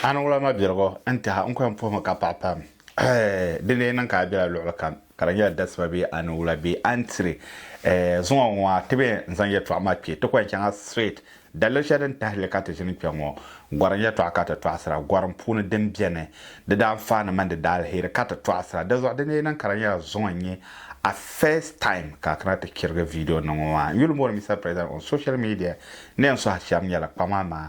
A niŋla ma birigu n-tiha n-kɔhi m-puhi mi ka paɣi pam. Eeh! Di lee niŋ ka a bela luɣili kam, ka di nyɛla dasiba bee a niwula bee a ni tiri eeh zuŋɔ ŋɔ maa, ti bee n-zaŋ yɛltɔɣa maa kpe, ti kɔŋ chaŋa straight. Daliri shɛli din tahi li ka ti ʒini kpe ŋɔ, gɔrim yɛltɔɣa ka ti tɔɣisira, gɔrim puuni din beni, di daanfaani mini di daaliheri ka ti tɔɣisira. Dizuɣu di lee niŋ ka di nyɛla zuŋɔ n-nyɛ a first time ka a kana ti chirigi video niŋ ŋɔ maa. N yuli moori Mister President on social media ni yɛn sɔhi shɛba nyɛla kpaŋmaŋ maa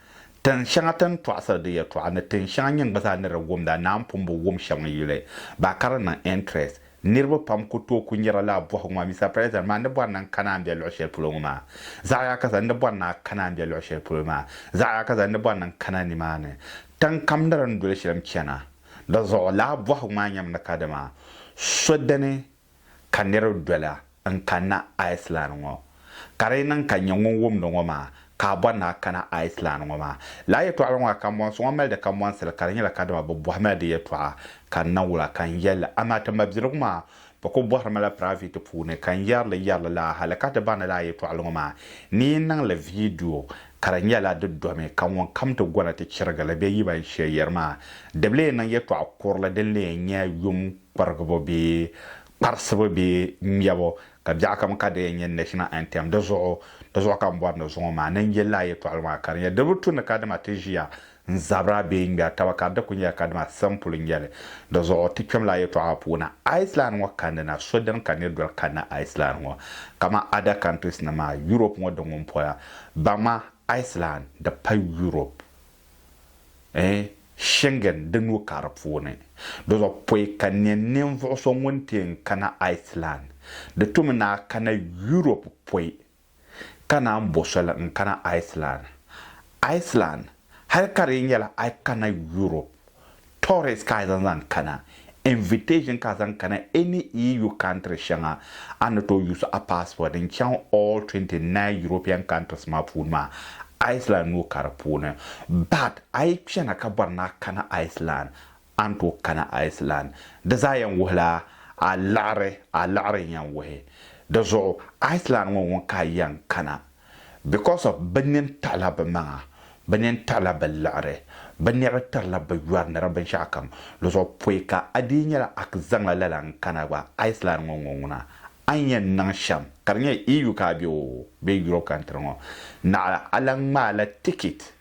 Tin shɛŋa ti ni tɔɣisiri di yɛtɔɣa ni tin shɛŋa nyin gba zaa ni di wumda naan pun bi wum shɛm n-yuli ba ka di niŋ interest. Niriba pam ku tooi ku nyari lala bɔhigu maa, Mister President, maa n ni bɔri ni n kana a ni be luɣ shɛli polo ŋɔ maa? Zaɣ ya ka zaŋ n ni bɔri ni a kana a ni be luɣ shɛli polo maa? Zaɣ ya ka zaŋ n ni bɔri ni n kana nimaani? Tin kam ni di ni doli shɛli m-chana. Di zuɣu lala bɔhigu maa nyɛmi ni kadama so dini ka niriba doli n kanna Iceland ŋɔ. Ka di yi niŋ ka n nyɛ ŋun wumdi ŋɔ maa, ka a bɔri ni a kana Iceland ŋɔ maa. Lala yɛtɔɣili ŋɔ ka kambɔnsi ŋɔ mali di kambɔnsili ka di nyɛla kadama bɛ bɔhima la di yɛtɔɣa ka n na wul a ka n yɛl li. Amaa ti mabiligu maa bɛ kul bɔhiri ma la piraiviti puuni ka n yɛri li yɛri li lala hali ka ti baŋ ni lala yɛtɔɣili ŋɔ maa ni yi niŋ li viidiyo Ka di nyɛla di domi ka ŋun kam ti gona ti chirigi li bee yi ban shee yɛri maa, di bi lee niŋ yɛtɔɣ kurili din lee nyɛ yum kpirigibu bee kparisibu bee ŋmɛbu, ka biɛɣu kam ka di yɛn nyɛ National Anthem. Di zuɣu di zuɣu ka m bɔri ni zuŋɔ maa ni n yɛli a yɛtɔɣili maa ka di nyɛ di bi tu ni kadama ti ʒiya N zabira bee ŋmɛri taba ka di ku nyɛla kadama siɣim polo n-nyɛ li. Di zuɣu ti kpɛm la yɛtɔɣa puuni. Iceland ŋɔ ka ni na, so dini ka nir doli kanna Iceland ŋɔ? Kaman ada countries nim maa, Europe ŋɔ di ŋun pola. Baŋma Iceland di pa Europe eh, Schengen di nuu ka di puuni. Di zuɣu pɔi ka nya ninvuɣu so ŋun ti yɛn kana Iceland. Di tu mi ni a kana Europe pɔi. ka naan bo soli n kana Iceland. Iceland hali ka di yi nyɛla a yi kana Europe tourist ka a zaŋ zaŋ kana, invitation ka a zaŋ kana any EU country shɛŋa, a ni tooi use a passport n chaŋ all 29 European countries maa puuni maa, Iceland nuu ka di puuni. But a yi chana ka bɔri ni a kana Iceland, A ni tooi kana Iceland? Di zaa yɛn wuhila a liɣiri, a liɣiri n yɛn wuhi. Di zuɣu Iceland ŋɔ ŋun ka a yɛn kana because of bɛ nini tiɣila bɛ maŋa, bɛ nini tiɣila bɛ liɣiri, bɛ nɛbi tirila bɛ yɔri ni di binshɛɣu kam. Di zuɣu pɔi ka a dii nyɛla a zaŋla lala n kana gba Iceland ŋɔ ŋɔ ŋuna. A ni yɛn niŋ shɛm ka di nyɛ EU ka a be oo bee Europe country ŋɔ naɣila a lahi ŋmaai la ticket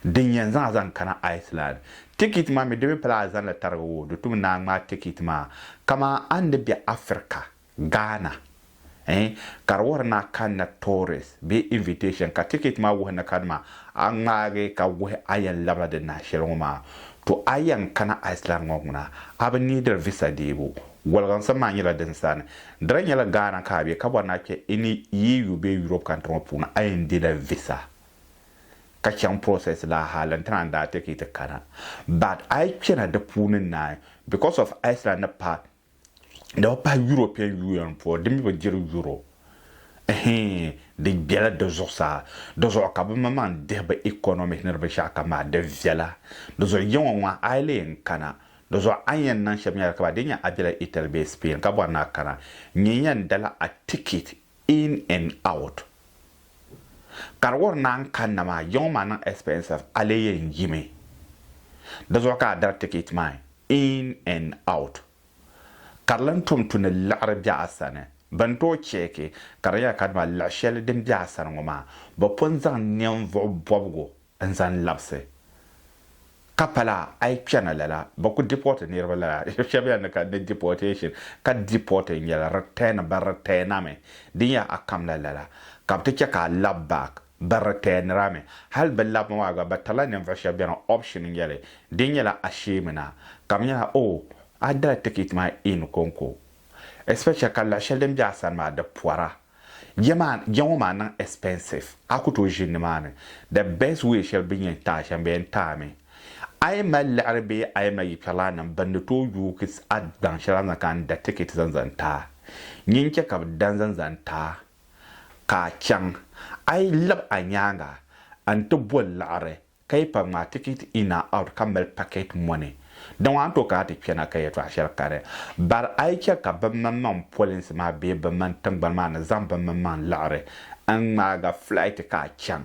din yɛn zaŋ zaŋ kana Iceland. Tikiti maa mi di mi pala a zaŋ li tarigi o di tum naan ŋmaa tikiti maa. Kaman a ni be Africa, Ghana, eh, ka di wuhiri ni a kanna tourist bee invitation ka tikiti maa wuhi ni ka dama a ŋmaagi ka wuhi a yɛn labila di nahi shɛli ŋɔ maa, to a yɛn kana Iceland ŋɔ ŋuna a bi niidiri visa deebu. Woliginsim maa nyɛla din sani. Di daa nyɛla Ghana ka a be ka bɔri ni a kpe ini EU bee Europe kantri ŋɔ puuni a yɛn dila visa ka chaŋ process la hali n tana daa take ti kana but ayi kpena di puuni naai because of Iceland ni pa di bi pahi European Union puuni di mi bi diri Euro eheeŋ di gbela di zuɣusaa di zuɣu ka bi ma maŋ dihi bi economic ni di binshɛɣu kam maa di viɛla di zuɣu ya ŋɔ ŋɔ ayi lee n kana di zuɣu a ni yan niŋ shɛm nyɛla ka ba dii nya a bela Italy bee Spain ka bɔri ni a kana nyɛ yan dala a ticket in and out ka di wari naan kanna maa yiŋɔ maa niŋ expensive a lee yɛn yimi di zuɣu ka a dari ticket maa in and out ka di lan tom tu ni liɣiri be a sani bɛ ni tooi cheeki ka di nyɛla kadama liɣ shɛli din be a sani ŋɔ maa bɛ pun zaŋ ninvuɣ bɔbigu n zan labisi ka pala ayi kpɛna lala bɛ ku deport niriba lala shɛb yɛn ni ka ni deportation ka deport n nyɛla return bɛ return a mi di nyɛla a kam la lala ka bɛ ti chɛ ka a lab back bɛ return ri a mi hali bɛ lab ma maa gba bɛ tirila ninvuɣ shɛb bɛni option n nyɛli di nyɛla a shee mi na ka bɛ nyɛla oh a dala ticket maa in konko especially ka luɣ shɛli din be a sani maa di pɔra Ya maa ya ŋɔ maa niŋ expensive a ku tooi ʒini nimaani the best way shɛli bini yɛn taai shɛm bɛ yɛn taai mi a yi mali liɣiri bee a yi mali yikpɛrilana nim bini di tooi yuugi a daŋ shɛli a ni zaŋ kana n-da ticket zaŋ zaŋ taai nyɛ n-chɛ ka bɛ da n-zaŋ zaŋ taai ka a chaŋ a yi labi a nyaaŋa n-ti boli liɣiri Ka yi pa ŋmaa ticket in and out ka mali packet money di ŋɔ a ni tooi kana ti kpɛna ka yɛltɔɣa shɛli kari. Bari a yi chɛ ka bimmaŋmaŋ polinsi maa bee bimmaŋ tiŋgbani maa ni zaŋ bimmaŋmaŋ liɣiri n ŋmaaga flight ka a chaŋ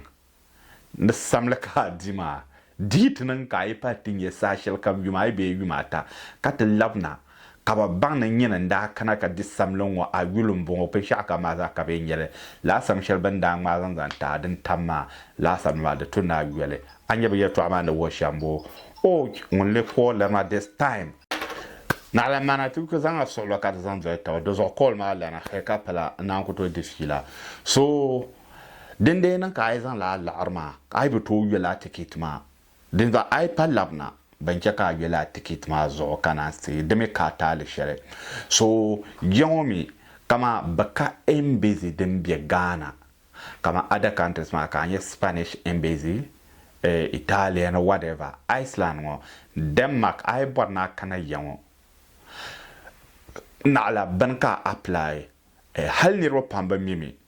ni samli ka a di maa, di yi ti niŋ ka a yi pahi ti nyɛ saha shɛlikam yuma ayi bee yuma ata ka ti labina, Ka bɛ baŋ ni nyini n-daa kana ka di samli ŋ-ŋɔ a yuli m-bɔŋɔ, binshɛɣu kam maa zaa ka bɛ yɛn nya li. Lala sam shɛli bɛ ni daa ŋmaai zaŋ zaŋ ti a din tam maa lala samli maa, di to ni a yoli. A nya bɛ yɛltɔɣa maa ni wuhi shɛm boo? Ouch! Ŋuni leei Paul lana this time? Naɣila mana ti ku zaŋ a suɣilo ka di zaŋ doli taba. Di zuɣu Paul maa lana hee ka pala n naan ku tooi di fiila. So, dindee niŋ ka a yi zaŋ lala laɣiri maa, ka a yi bi tooi yoli a tikiti maa? Dinzuɣu a yi pa labina bɛn chɛ ka a yoli a tikiti maa zuɣu ka naan ti di mi ka a taali shɛli. So je ŋɔ mi, kaman bɛ ka embassy din be Ghana, kaman other countries maa ka a nya Spanish embassy, eh, Italia ni whatever, Iceland ŋɔ, Denmark, a yi bɔri ni a kana ya ŋɔ, naɣila bɛn ka a apply, eh, hali niriba pam bi mi mi.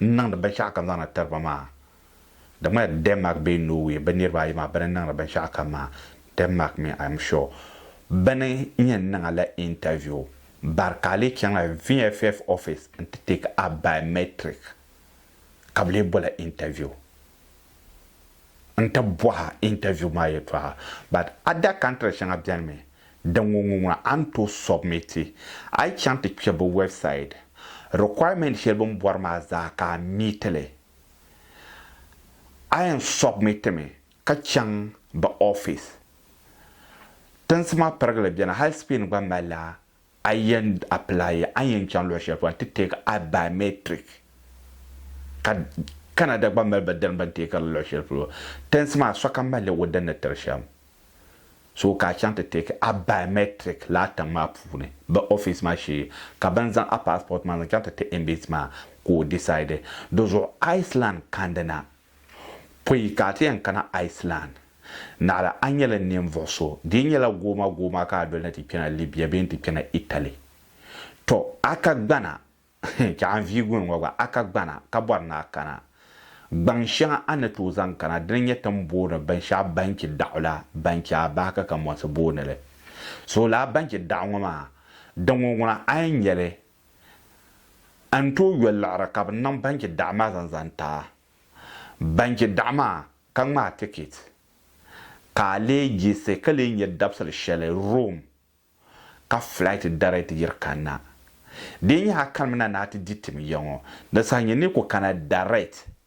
n niŋdi binshɛɣu kam zaŋdi tiri ba maa. Di ŋmanila Denmark bee Norway bɛ niriba ayi maa bɛ ni niŋdi binshɛɣu kam maa Denmark mi I'm sure. Bɛ ni yɛn niŋ a la interview bari ka a lee chaŋla VFF office n-ti take a biometric ka bɛ lee bol a interview. n ti bɔha interview maa yɛtɔɣa but other country shɛŋa beni mi din ŋun ŋun ŋuna a ni tooi submit a yi chaŋ ti kpe bɛ website requirement shɛli bɛ ni bɔri maa zaa ka a meet li a yɛn submit mi ka chaŋ bɛ office tinsi maa pirigili beni hali Spain gba mali la A yɛn apply ya, a ni yɛn chaŋ luɣi shɛli polo, a ti take a biometric ka Canada gba mali bɛ dini bɛ ni take li luɣi shɛli polo. Tɛnsi maa sokam malila o dini ni tiri shɛm. So ka a chaŋ ti take a biometric lala tiŋ maa puuni bɛ office maa shee ka bɛ ni zaŋ a passport maa zaŋ chaŋ ti ti embassy maa ka o decide. Di zuɣu Iceland kandi na Pɔi ka a ti yɛn kana Iceland. Naɣila a nyɛla ninvuɣ so. Di yi nyɛla goomagooma ka a doli ni ti kpɛna Libya bee n-ti kpɛna Italy, tɔ! A ka gbana, chɛ a ni viigi ŋun ŋɔ gba, a ka gbana ka bɔri ni a kana. Gbaŋ shɛŋa a ni tooi zaŋ kana dina nyɛ ti ni booni binshɛɣu banchi daɣu la ban chɛ a bahi ka kamonsi booni li Soolaa banchi daɣu ŋɔ maa. Di ŋɔ ŋuna a yɛn nya li a ni tooi yoli liɣiri ka bɛ niŋ banchi daɣu maa zaŋ zaŋ ti a banchi daɣu maa ka ŋmaai tikit ka a lee yiɣisi ka lee nya dabisili shɛli Rome ka flight dari ti yiri kanna. Di yi nyɛ a kanimi na ni a ti di tim ya ŋɔ, di saha nyini ni yi ku kana direct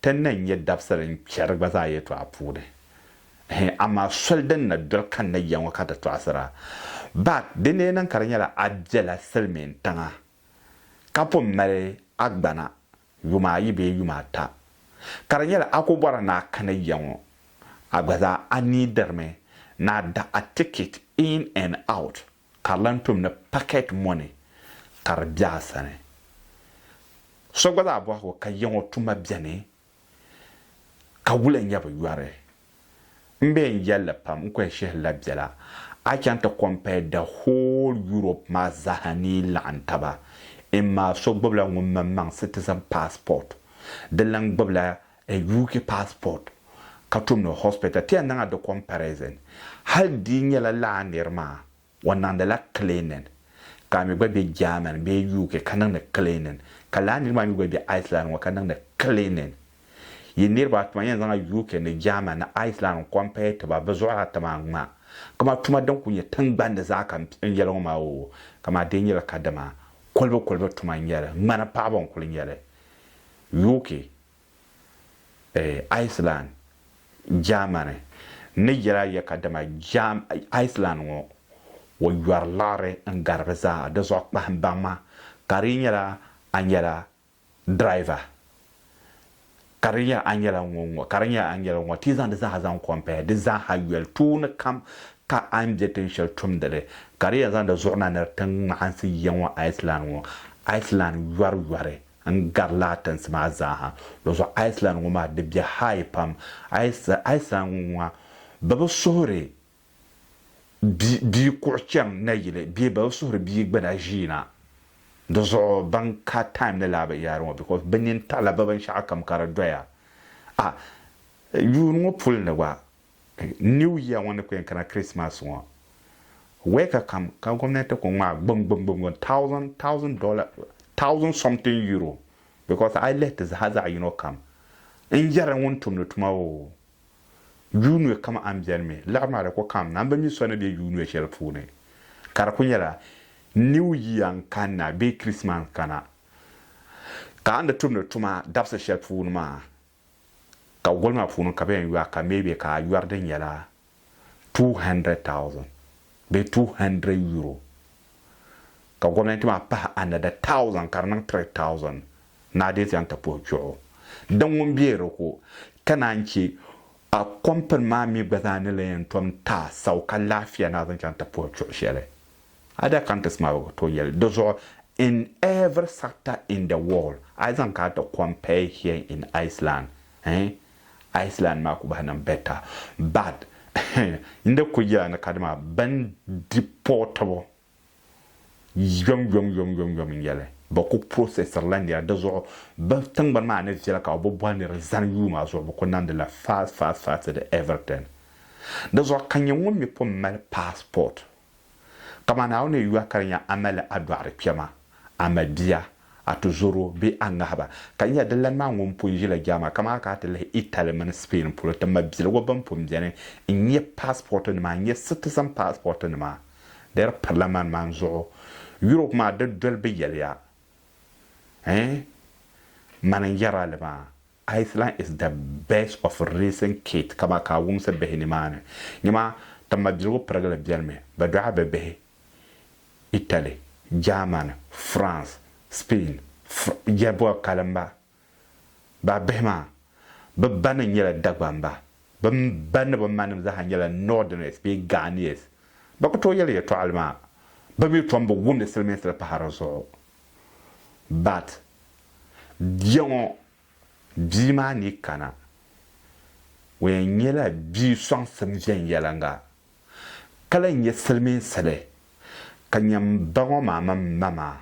Ti ni nya dabisili n-chɛri gba zaa yɛtɔɣa puuni. Hɛ, amaa soli din na doli kanna ya ŋɔ ka ti tɔɣisira. Bak, di ni yi niŋ ka di nyɛla a bela silimiin tiŋa ka pun mali a gbana yuma ayi bee yuma ata, ka di nyɛla a ku bɔri ni a kani ya ŋɔ, a gba zaa a neediri mi ni a da a ticket in and out. Ka di lan tom ni pakɛt mɔni ka di be a sani. So gba zaa bɔhigi o ka yiŋɔ tuma beni, ka wula n-nyɛ bi yɔri? M be n yɛl li pam, n kɔhi shihili la biɛla, a chaŋ ti compare the whole Europe maa zaaha ni yi laɣim taba, in maa so gbibila ŋun maŋmaŋ citizen passport, di lan gbibila A UK passport ka tum ni hospital ti ya niŋ a di comparison hali di nyɛla laa niri maa o niŋdi la cleaning ka a mi gba be Germany bee UK ka niŋdi cleaning ka laa niri maa mi gba be Iceland ŋɔ ka niŋdi cleaning yi niriba a tuma yɛn zaŋ a UK ni Germany ni Iceland n compare ti ba bɛ zuɣuri a ti maa ŋmaa kam a tuma din kuli nyɛ tingbani zaa ka n yɛli ŋɔ maa oo kam a di nyɛla ka dama kolibu kolibu tuma n nyɛli ŋmani paɣibu n kuli nyɛli. UK, Iceland, Germany ni yɛl a ya ka dama Iceland ŋɔ o yɔri liɣiri n-garigi zaa di zuɣu kpahim baŋ ma ka di yi nyɛla a nyɛla driver ka di nyɛ a nyɛla ŋɔ-ŋɔ ka di nyɛ a nyɛla ŋɔ ti zaŋ di zaa zaŋ compare di zaa ha yɔli tooni kam ka a ni be tin shɛli tumdi li ka di yɛn zaŋ di zuɣu na ni di ti ŋmahinsi ya ŋɔ Iceland ŋɔ Iceland yɔri yɔri N gari la a tinsi maa zaa ha. Dɔzuɣu Iceland ŋɔ maa di bɛ high pam. Iceland ŋɔ ŋɔ bɛ bi suhiri bia kuɣu chaŋ nayili bee bɛ bi suhiri bia gbuna ʒiina. Di zuɣu ban ka time ni laa bi yaari ŋɔ because bɛ nini taɣila bɛ binshɛɣu kam ka di doya. A yuuni ŋɔ puli ni gba New year ŋɔ ni ku yɛn kana Christmas ŋɔ week kam ka gomnanti ku ŋmaai gbungbungbungbun thousand thousand dollar thousand something euro because a yi lihi ti zaha zaɣi yino kam n yɛri ŋun tumdi tuma o yuunwe kam a ni beni mi liɣiri maa di ku kam na n bi mi so ni be yuunwe shɛli puuni ka di ku nyɛla new year n kanna bee Christmas n kana ka a ni tumdi tuma dabisi shɛli puuni maa Ka goli maa puuni ka bɛ yɛn yɔa ka maybe ka a yɔri di nyɛla two hundred thousand bee two hundred euro ka gomnanti maa pahi another thousand ka di niŋ three thousand ni a dii zaŋ ti puhi kpɛɣu din ŋun bɛ di ko ka naan che a company maa mi gba zaa ni lan yɛn tom ti a sau ka laafia ni a zaŋ chaŋ ti puhi kpɛɣu shɛli. Other countries maa bi tooi yɛli di zuɣu in every sector in the world a yi zaŋ kana ti compare here in Iceland eh Iceland maa ku bahi niŋ better but n di ku yɛla ni kadi maa bɛn di pɔɔtibu yom yom yom yom yom n yɛli bi ku processiri la nira di zuɣu bi tingbani maa ni viɛli ka bi bi bɔri nira zani yuu maa zuɣu bi ku niŋdi la fast fast fast di everything di zuɣu ka nyɛ ŋun mi pun mali passport Kaman a o ni yɔh ka di nya a mali a dɔɣiri kpɛma, a mabia, a tuzoro bee a ŋahiba, ka nya di lani maa ŋun pun ʒila German kaman a ka a ti lihi Italy mini Spain polo ti mabiligu bɛn pun beni n-nya paasipɔɔtinima, n-nya citizen paasipɔɔtinima. Di di pirila mani man zuɣu. Europe maa di doli bɛ yɛliya. Ɛɛn? Mani n-yɛri a li maa. Iceland is the best of racing kit kama ka a wumsi bihi nimaani. Nimaa ti mabiligu pirigili biɛlimi bɛ dɔɣi bɛ bihi Italy, Germany, France, Spain, Fr. Yɛlibuɣi kalimba baa bihi maa, bɛ ba ni nyɛla Dagbamba. Bɛ ba ni bɛ manim zaaha nyɛla Northerners bee Ghanese. Bɛ ku tooi yɛli yɛtɔɣili maa, bɛ mi tom bi wumdi siliminsili pahi di zuɣu. But biɛŋɔ bia maa ni kana o yɛn nyɛla bia sɔŋsim viɛnyɛliŋga ka lahi nyɛ silimiinsili ka nya m ba ŋɔ maa mini ma maa.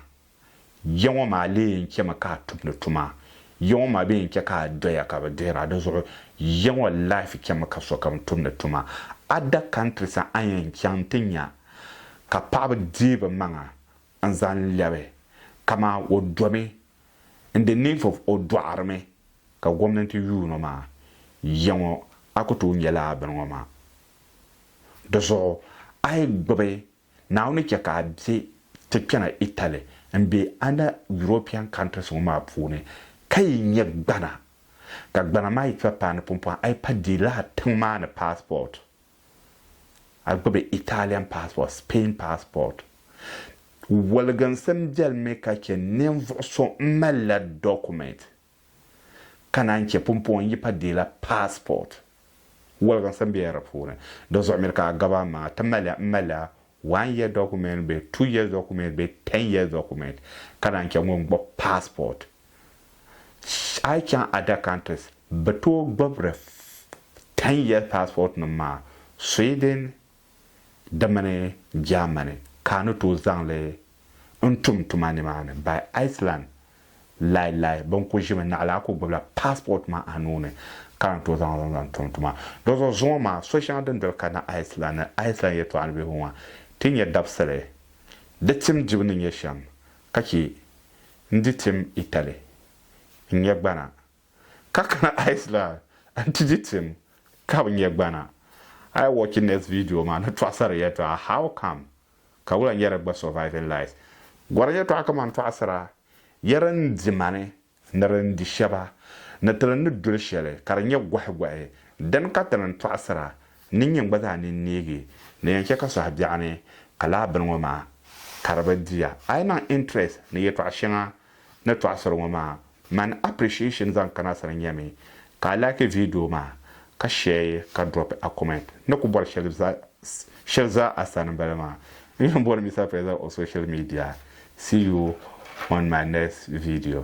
Ya ŋɔ maa lee yɛn chɛmi ka a tumdi tuma. Ya ŋɔ maa bɛ yɛn chɛ ka a doya ka bɛ dihira di zuɣu ya ŋɔ life chɛmi ka sokam tumdi tuma. Other countries a yɛn chaŋ ti nya ka paɣaba deei bɛ maŋa n zan lɛbi kaman o domi in the name of o dɔɣirimi ka gomnanti yuuno maa ya ŋɔ a ku tooi nyɛla bini ŋɔ maa di zuɣu a yi gbubi Naawuni chɛ ka a be ti kpɛna Italy n be under European countries ŋɔ maa puuni ka yi nyɛ gbana ka gbana maa yi kpa paani pumpɔŋ a yi pa deei lala tiŋ maa ni passport a gbubi Italian passport, Spain passport. Woliginsim biɛli mi ka chɛ ninvuɣ so m-malila document ka naan chɛ pumpɔŋ n-yi pa deela passport. Woliginsim biɛla di puuni. Di zuɣu mi ka a gabi amaa ti mali a m-mali a one year document bee two years document bee ten years document ka naan chɛ ŋun gbubi passport a yi chaŋ other countries bi tooi gbubiri ten years passport nim maa Sweden di mini Germany ka a ni tooi zaŋli n tum tuma nimaani by Iceland lai lai bɛ ku ʒimi naɣila a ku gbubila passport maa a nuuni ka lan tooi zaŋ li zaŋ tum tuma di zuɣu zuŋɔ maa so shɛŋa din doli kana Iceland ni Iceland yɛltɔɣa ni bɛ hu maa ti nyɛ dabisili di tim dibu ni nyɛ shɛm ka chɛ n di tim Italy n nyɛ gbana ka kana Iceland n ti di tim ka bi nyɛ gbana a yi watch next video maa ni tɔɣisiri yɛltɔɣa how come ka wula n yɛra gba surviving lies gɔri yɛtɔɣa kamani tɔɣisira yɛri n di ma ni ni di ni di shɛba ni ti li ni doli shɛli ka di nyɛ gɔhigɔhi dini ka ti ni tɔɣisira ni nyini gba zaa nini neegi ni yɛn chɛ ka sɔhi biɛɣuni ka laa bini ŋɔ maa ka di bi di ya a yi niŋ interest ni yɛtɔɣa shɛŋa ni tɔɣisiri ŋɔ maa mani appreciation zaŋ kana sani nyɛmi ka a like video maa ka share ka drop a comment ni ku bɔri shɛli zaa a sani m-bala maa n-yɛn bɔri Mister President of social media see you on my next video.